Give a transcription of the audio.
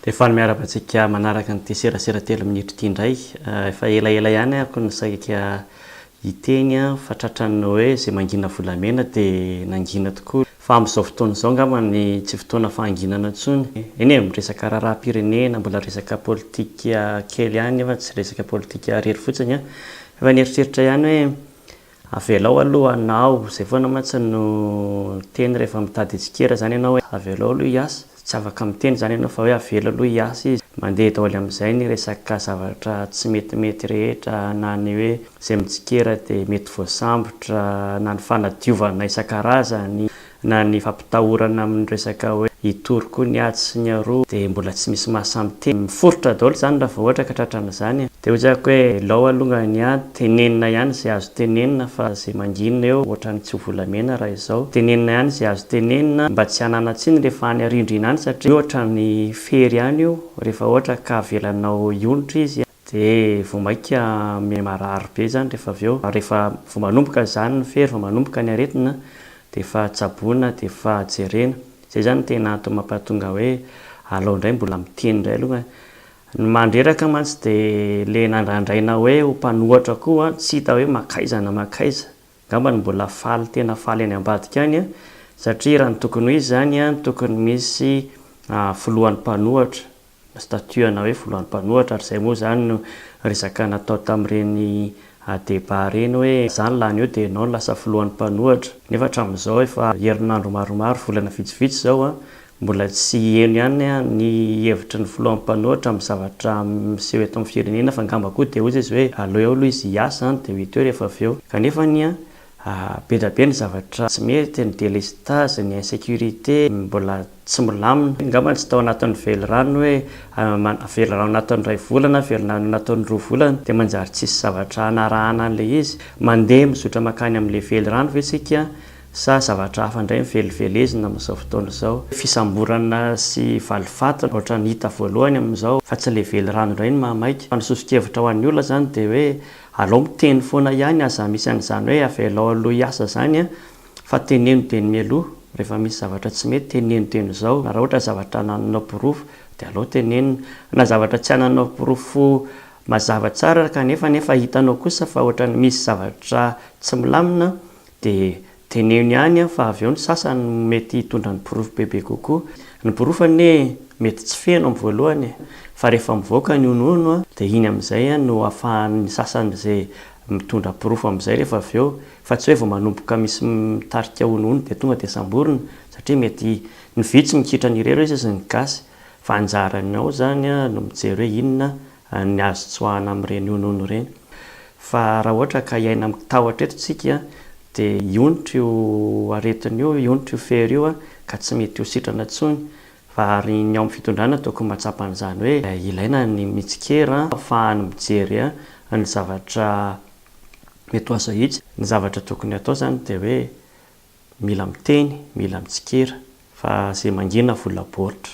Dia faly miaraka antsika manaraka an'ity serasera telo minitra ity indray. Eh, efa elaela ihany ako ny saika hiteny fa tratran'ny hoe izay mangina volamena dia nangina tokoa. Fa amin'izao fotoana izao angamba ny tsy fotoana fahanginana intsony. Eny e, miresaka raharaham-pirenena, mbola resaka politika kely ihany nefa tsy resaka politika irery fotsiny an! Efa nieritreritra ihany hoe avelao aloha hanao, izay foana mantsy no teny rehefa mitady tsikera izany ianao hoe avelao aloha hiasa. Tsy afaka miteny izany ianao fa hoe avela aloha hiasa izy. Mandeha daholo amin'izay ny resaka zavatra tsy metimety rehetra na ny hoe izay mitsikera dia mety voasambotra na ny fanadiovana isan-karazany na ny fampitahorana amin'ny resaka hoe hitory koa ny atsy sy ny aroa dia mbola tsy misy mahasahy miteny. Miforitra daholo izany raha vao ohatra ka tratra an'izany. Dia hoy aho hoe lao alongany an! Tenenina ihany izay azo tenenina fa izay mangina eo ohatran'ny tsy ho volamena raha izao. Tenenina ihany izay azo tenenina mba tsy hanana tsiny rehefa any arindrina any satria ohatran'ny fery ihany io, rehefa ohatra ka avelanao hionitra izy dia vao mainka miha-marary be izany rehefa avy eo. Rehefa vao manomboka izany ny fery, vao manomboka ny aretina dia efa tsaboina, dia efa jerena. Izay izany no tena antony mampahatonga hoe alao indray mbola miteny indray aloha Ny mandreraka mantsy dia le nandrandraina hoe ho mpanohatra koa an, tsy hita hoe mankaiza na mankaiza. Angambany mbola faly tena faly any ambadika any an, satria raha ny tokony ho izy izany an, tokony misy filohan'ny mpanohatra, na statut ana hoe filohan'ny mpanohatra, ary izay moa izany no resaka natao tamin'ireny débat ireny hoe za ny lany eo dia ianao no lasa filohan'ny mpanohatra. Nefa hatramin'izao efa herinandro maromaro, volana vitsivitsy izao an, Mbola tsy heno ihany ny hevitry ny filoha mpanohitra amin'ny zavatra miseho eto amin'ny firenena fa angamba koa dia hoy izy hoe aleo eo aloha izy hiasa dia ho hita eo rehefa avy eo. Kanefa anie be dia be ny zavatra tsy mety, ny délestage, ny insécurité, mbola tsy milamina. Angamba tsy tao anatin'ny velirano hoe velirano anatin'ny iray volana, velirano anatin'ny roa volana dia manjary tsisy zavatra hanarahana an'ilay izy. Mandeha mizotra mankany amin'ilay velirano ve isika Sa zavatra hafa indray no velivelezina amin'izao fotoana izao? Fisamborana sy valifaty no ohatran'ny hita voalohany amin'izao fa tsy ilay velirano indray no mahamaika. Fa ny soso-kevitra ho an'ny olona izany dia hoe alao miteny foana ihany aza misy an'izany hoe avelao aloha hiasa izany an! Fa teneno dieny mialoha, rehefa misy zavatra tsy mety teneno dieny izao. Raha ohatra zavatra anananao porofo dia alao tenenina. Na zavatra tsy ananao porofo mazava tsara kanefa nefa hitanao kosa fa ohatran'ny misy zavatra tsy milamina Dia teneno ihany fa avy eo ny sasany no mety hitondra ny porofo bebe kokoa. Ny porofo anie mety tsy feno amin'ny voalohany e! Fa rehefa mivoaka ny honohono dia iny amin'izay no ahafahan'ny sasany izay mitondra porofo amin'izay rehefa avy eo. Fa tsy hoe vao manomboka misy mitarika honohono dia tonga dia samborina satria mety ny vitsy mikitra an'ireo ireo sisa ny gasy. Fa anjaranao izany no mijery hoe inona ny azo tsoahana amin'ireny honohono ireny. Fa raha ohatra ka hiaina amin'ny tahotra eto isika dia hionitra io aretina io, hionitra io fery io ka tsy mety ho sitrana intsony. Fa ary ny ao amin'ny fitondrana tokony mahatsapa an'izany hoe ilaina ny mitsikera ahafahany mijery ny zavatra mety ho azo ahitsy. Ny zavatra tokony hatao izany dia hoe mila miteny, mila mitsikera fa izay mangina vola baoritra.